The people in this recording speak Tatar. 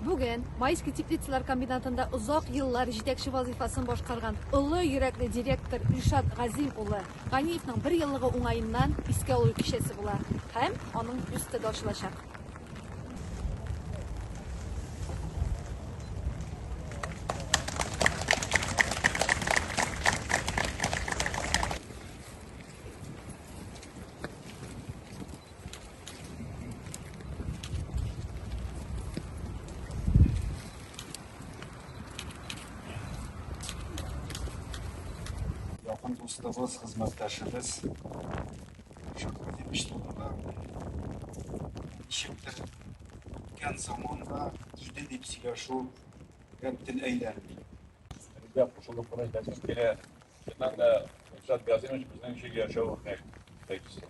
Бүген Майский теплицалар комбинатында озак еллар җитәкче вазыйфасын башкарган олы йөрәкле директор Илшат Газим улы Ганиевның бер еллыгы уңаеннан искә алу кичәсе була һәм аның бюсты да ачылачак. Якын дустыбыз, хезмәттәшебез Шакир Демич турында ничектер үткән заманда иде дип сөйләшү тел әйләнми. Безгә кушылып кына әйтәсем килә. Чыннан да Илшат Газимович безнең өчен яшәү үрнәк итәкчесе.